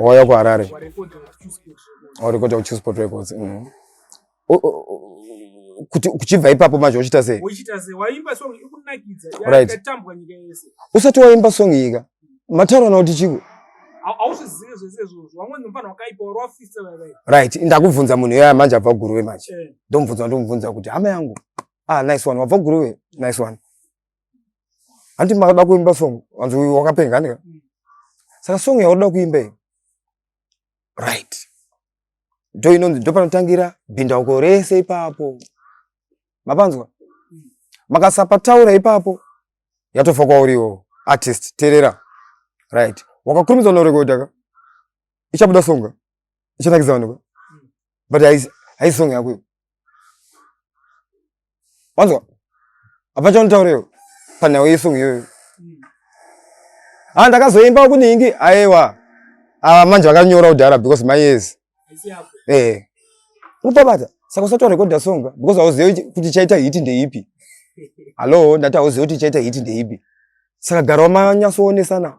wauya kuharare warekota kuchoose port records mm. kuchibva ipapo manje uchiita sei usati waimba song yika mataura na kuti chiko right ndakubvunza munhu iyoya manje abva guruve manje eh. ndomubvunza ndomubvunza kuti hama yangu ah nice one wabva guruve nice one hanti makada kuimba song anzi uyu wakapenga andika saka song yauda kuimba iyo right ndo inonzi ndo panotangira bhindauko rese ipapo mapanzwa makasapataura ipapo yatofa kwauriwo artist terera right wakakurumidza unorekodaka ichabuda songa ichanakidza vanhu but haisi song yako iyo wanzwa hapana chaunotaura iyo panhau yesong iyoyo ha ah, ndakazoimba kuningi aiwa ava ah, manje vakanyora kudhara because my years ehe unopabata saka usati warekodha song because hauzivi kuti chaita hiti ndeipi hallo ndati hauzivi kuti chaita hiti ndeipi saka gara wamanyasoonesana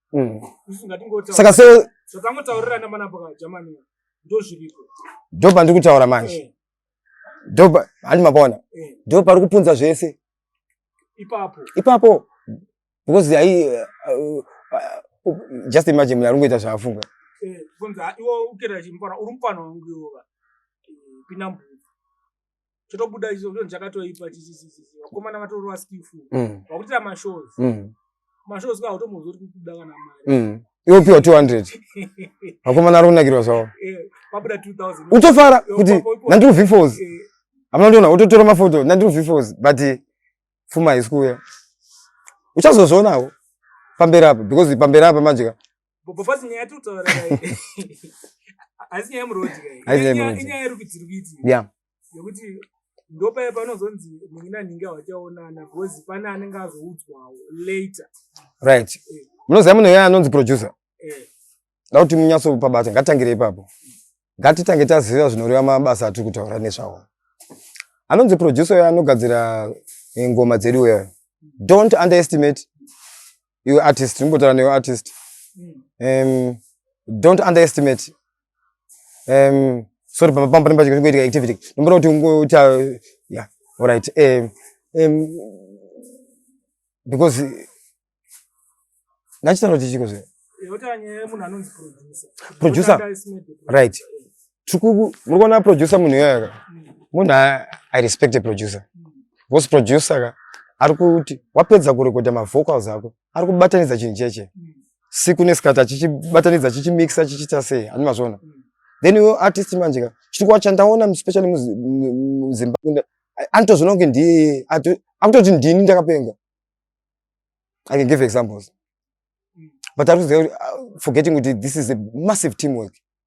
mm. saka se zvatangotaurirana manapo ka jamani ndozviriko ndo pandiri kutaura manje eh. ndo handi mapona eh. ndo pari kupunza zvese ipapo ipapo because ai uh, uh, uh, just imagine munhu ari kungoita zvaafunga eh, iwo ukira chimupana uri mupana wangu iwo pinda mbuzi chotobuda chicho chakatoipa chichichichi vakomana vatorova skillful mm. vakuitira mashows mm. mashows kwa hautomuzoti kukuda kana mari mm. iopiwa 200 vakomana ari kunakirwa zvavo eh, pabuda 2000 utofara kuti nandiri vifos eh. hamuna ndiona utotora mafoto nandiri vifos but fuma haisi kuuya uchazozvionawo pamberi apa because pamberi apa manje ka Bobofazi nyaya yatiri kutaura kai. Haisi nyaya yemuroad kai. Haisi nyaya yemuroad. Inyaya yerukudziri kuiti. Yeah. Yekuti ndopaya panozonzi munhu nanhingi hawachaonana because pane anenge azoudzwawo later. Right. Eh. Munoziva munhu iye anonzi producer. Eh. Ndau kuti munyatso pabata ngatangire ipapo. Ngatitange taziva zvinoreva mabasa atiri kutaura nezvawo. Anonzi producer uyo anogadzira eh, ngoma dzedu uyo. Don't underestimate iwe artist ndimbotaura newe artist um, don't underestimate um, sorry pamba pamba pamba chikati kuitika activity ndomboda kuti ungoita yeah all right um, um, because nachitaura kuti chiko zve producer right Tukuku, muri kuona producer munhu iyoyo ka? Munhu I respect a producer. Vos producer ka ari kuti wapedza kurekodha mavocals ako ari kubatanidza chinhu cheche siku nesikati achichibatanidza chichimixa chichiita sei ani mazvona then iwe artist manje ka chirikuwa chandaona especially muzimbabwe anotozvona kunge ndiye akutoti ndini ndakapenga i can give examples but ari kuziva ah, forgetting kuti this is a massive teamwork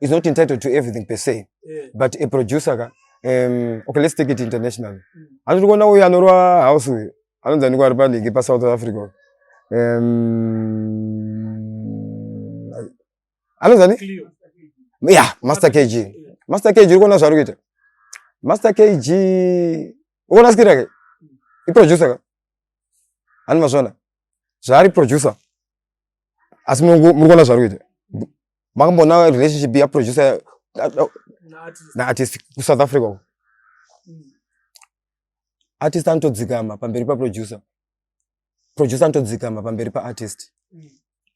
is not entitled to everything per se yeah. but a producer ka um, okay let's take it international mm. handiri kuona uyu anorwa house uyu anonzi anikwa ari paligi pasouth africa um, anonzi ani ya master kg master kg uri kuona zvaari kuita master kg ukuona skiri yake iproducer ka ani mazvona zvaari producer asi muri kuona zvari kuita makamboona relationship yaproducer naartist kusouth africa uko artist anotodzikama pamberi paproducer producer anotodzikama pamberi paartist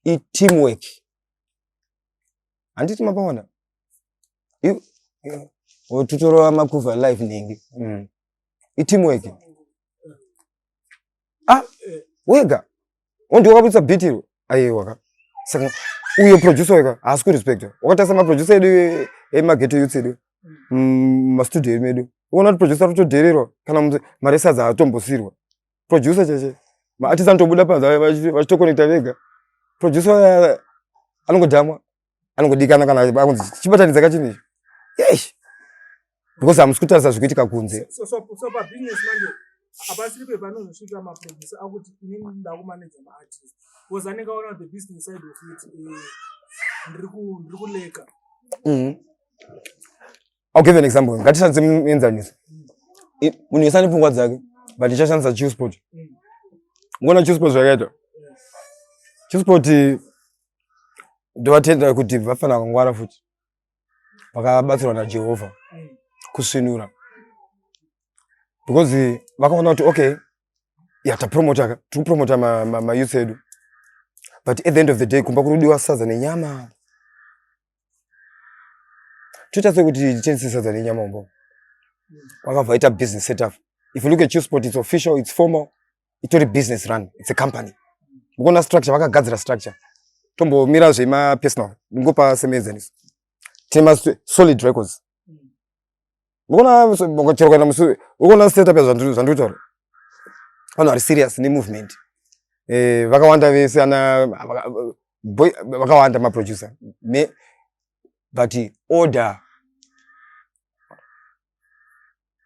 iteam work handiti mapaona tutorova makuva live nhingi mm. iteam work ah wega Wonti wakabudisa beat iro. Aiwa ka. Saka uyo producer weka haasi ku respect. Wakatasa ma producer edu ema ghetto youths edu. Mm, ma studio edu medu. Uona kuti producer ruto derero kana mzee maresa za atombosirwa. Producer cheche. Ma artist antobuda pa za vachito connecta vega. Producer anongodamwa. anongodikana kana akunzi chibatanidza kachini icho yes because hamusi kutarisa zviri kuitika kunze hapasiri pepanozosvika maproducer akuti ini ndakumaneja maartist bcause anenge aona the business side of it eh, ndiri kuleka mhm. I'll give an example. Ngatishandise muenzaniso. Munhu wese ane pfungwa dzake, but ndichashandisa Chewspot. Ngona Chewspot zvakaita. Chewspot ndovatenda kuti vafanira kungwara futi. Vakabatsirwa naJehovha kusvinura. Because vakaona kuti okay, ya tapromota tikupromota mayouth edu but at the end of the day kumba kurudiwa sadza nenyama toita sekuti titengese sadza nenyama umbo wakabva ita business setup if you look at usport it's official it's formal itori business run it's a company mukuona structure vakagadzira structure tombomira zvemapersonal ndingopa semenzaniso tine masolid records Ukaona chero kuenda musure, ukaona setup yazvandiri zvandiri kutaura. Vanhu vari serious ne movement. Eh, vakawanda vese ana boy vakawanda ma producer. Me but order.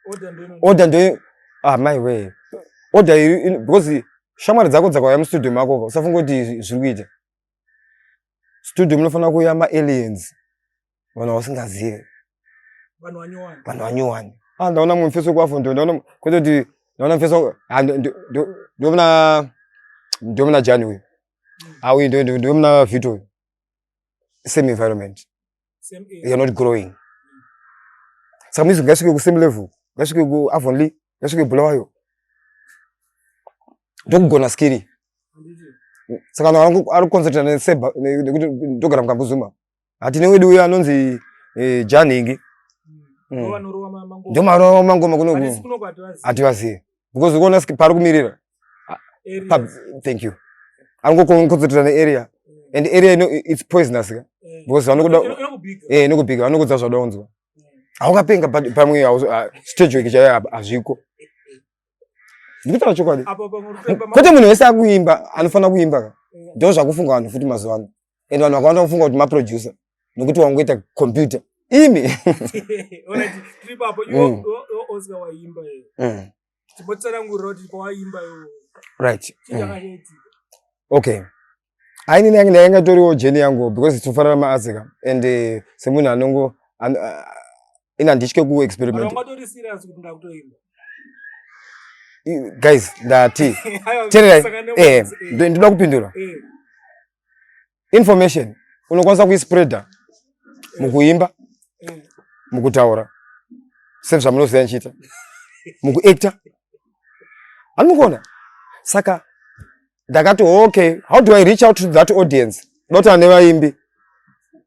Order ndo order ndo ah my way. Order iri because shamwari dzako dzakauya mu studio mako usafunga kuti zviri kuita. Studio munofanira kuuya ma aliens. vanhu vasingazive vanhu vanyowani vanhu vanyowani ah ndaona mumwe mfeso kwafo ndo ndaona kwete kuti ndaona mfeso ah ndo ndo ndo ndo mna ndo mna jani uyu ah uyu ndo ndo ndo mna vito uyu same environment same area you're not growing saka mizwi ngaisvike ku same level ngaisvike ku avonly ngaisvike bulawayo ndokugona skiri handiti saka vanhu vari kuconcentrate neseba nekuti ndogara mukanguzuma hatine wedu uyo anonzi eh, janhingi mm. ndomarova mangoma kuno hativazive because ukuona pari kumirira thank you anongokonzertira nearea and area ino its poisonous ka eh. because vanokuda eh, inokubika vanokudza zvada unzwa haukapenga eh. pamwe ah, stage weki chaiyo hazviko ndikutaura chokwadi kwete munhu wese akuimba anofanira kuimba ka ndo zvakufunga vanhu futi mazuva ano and vanhu vakawanda kufunga kuti maproducer nokuti wangoita computer imi right mm. okay ainini yange ndainga toriwo jeni yangu because tinofanana maazika and eh, semunhu anongo ini handitye kuexperiment guys ndati tererai eh, ndinoda kupindura eh. information unokwanisa kuispreader eh. mukuimba mukutaura sezvamunoziva nichiita mukuactor anokona saka ndakati okay how do i reach out to that audience dota nevaimbi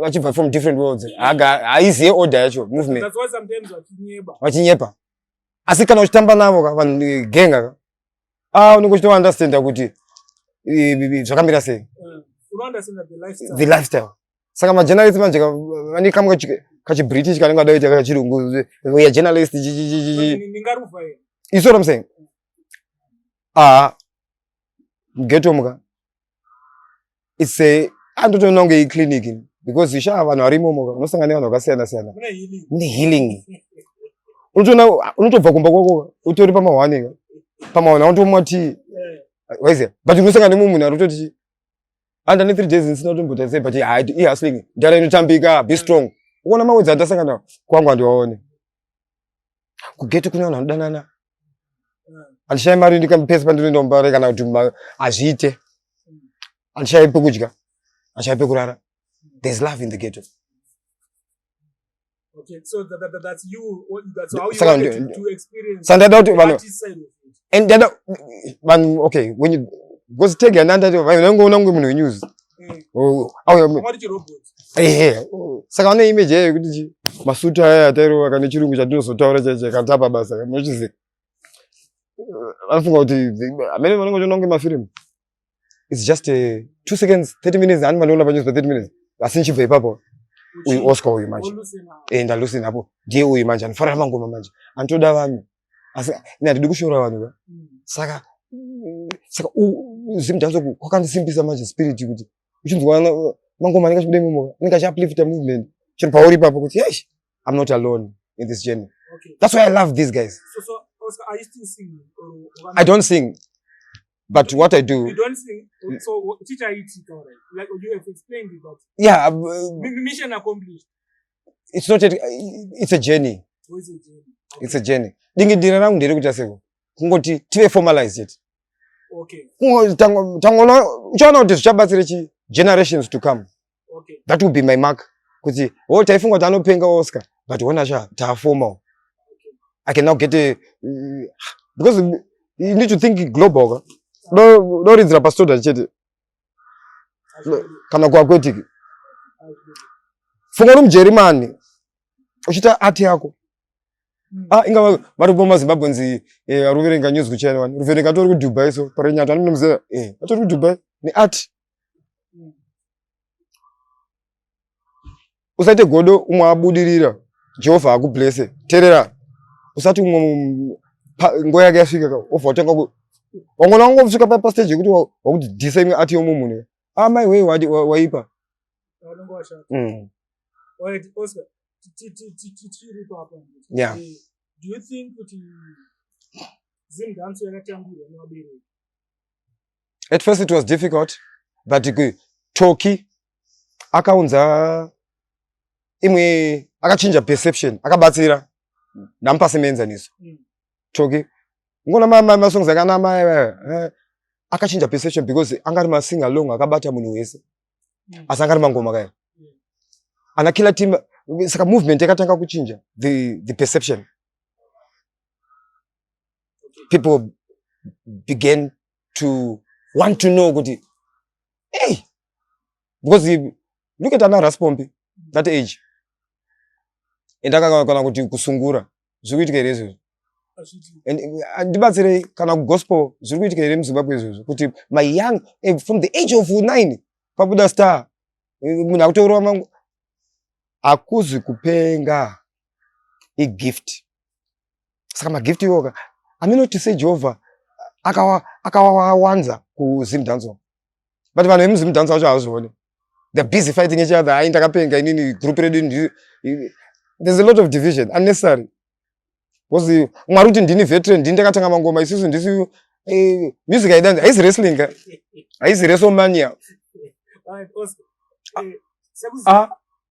vachibva from different worlds haiziye order yacho movement vachinyepa asi kana uchitamba navo ka vanhu eh, genga ka ah unenge uchito understand kuti eh, eh, zvakamira sei the lifestyle saka majournalist manje vane kamwe kachibritish kanenge kada kuita kachirungu ya journalist iso ramseng ah geto muka it's a andotoona kunge iclinic because shaa vanhu varimo unosangana nevanhu vakasiyana siyana mune healing unotoona unotobva kumba kwako utori pamahwane pamahwane automwa tii waiziva but unosangana nemumwe munhu arototi and ane three days ndisina kutomboita sei but ihustling ndara inotambika be strong uona mawedzi andasangana kwangu andiwaone kugeto kune vanhu vanodanana handishayi mari ndikapese pandinoenda kumbare kana kuti hazviite handishayi pekudya handishayi pekurara there's love in the ghetto sandada kuti vanhu and dada vanhu okay when you because tega nandati vanhu vanongoona kunge munhu wenyuzi mm. oh, ehe saka vane image yayo yekuti masutu aya atairova kane chirungu chatinozotaura chaicho katapa basa kanochiziva vanofunga kuti amene vanenge vachiona kunge mafirimu its just uh, two seconds thirty minutes ani vanoona panyews pa thirty minutes asi ndichibva ipapo uyu oscar uyu manje e ndalusi napo ndiye uyu manje anofarira mangoma manje anotoda vanhu asi ini handidi kushora vanhu ka mm. saka saka zim janso kwakandisimbisa manje spirit kuti uchinzwa mangoma anenge achibuda imomo anenge achiuplifta movement chero pauri ipapo kuti yes i'm not alone in this journey okay. that's why i love these guys so, so, Oscar, are you still singing or, or i don't sing but what i do you don't sing mm. so teacher it all right like you have explained it but yeah uh, mission accomplished it's not a, it's a journey it's a journey dingindira rangu ndere kuita seko kungoti tive formalize it okay tangoona uchaona kuti zvichabatsira chi generations to come okay that will be my mark kuti wo oh, taifunga kuti anopenga oscar but wona sha taafoma okay. i can now get a uh, because you need to think global ka do do rinzira pastoda chete kana kuakwetiki funga uri mujerimani uchiita ati yako hmm. ah, inga varipo mazimbabwe nzi eh, aruverenga news kuchina wani ruverenga atori kudubai so parenyata anonomuzera eh, atori kudubai neati usaite godo umwe abudirira jehovha akublese terera usati umwe nguva yake yasvika obva watanga wangona wangosvika pastage yekuti wakuti dhisa imwe ati yomu munhu amai ah, wei waipa mm. yeah. do you think kuti zim dance yakatambirwa nevabereki at first it was difficult but toki akaunza imwe akachinja perception akabatsira ndamupase mienzaniso mm. toki ngona masongs akanama eh, eh, eh, akachinja perception because anga ari masing along akabata munhu wese mm. asi anga ari mangoma kaya mm. ana killer team saka movement yakatanga kuchinja the, the perception people began to want to know kuti hey because look at ana raspompi that age and akakana kuti kusungura zviri kuitika here izvozvo uh, ndibatsirei kana kugospel zviri kuitika here muzimbabwe izvozvo kuti my young eh, from the age of nine pabuda star eh, munhu akutourwa mangu hakuzi kupenga igift saka magift iwoka aminoti sei jehovha akawawanza kuzim danzo but vanhu vemuzim danzo vacho havazvione the busy fighting each other ai ndakapenga inini group redu there's a lot of division unnecessary bcause mwari kuti ndini veteran ndini ndakatanga mangoma isusu ndisu eh, music aidanzi haisi wrestling haisi wrestlemania ah, ah,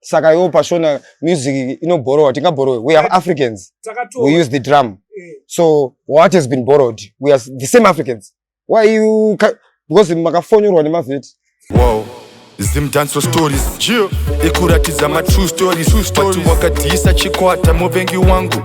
saka iwo pashona music inobhorowa tingabhorowe we are africans we use the drum eh. so what has been borrowed we are the same africans why you because makafonyorwa nemavheti wow zimdanso stories ikuratidza matrue stories but wakadhiyisa chikwata muvengi wangu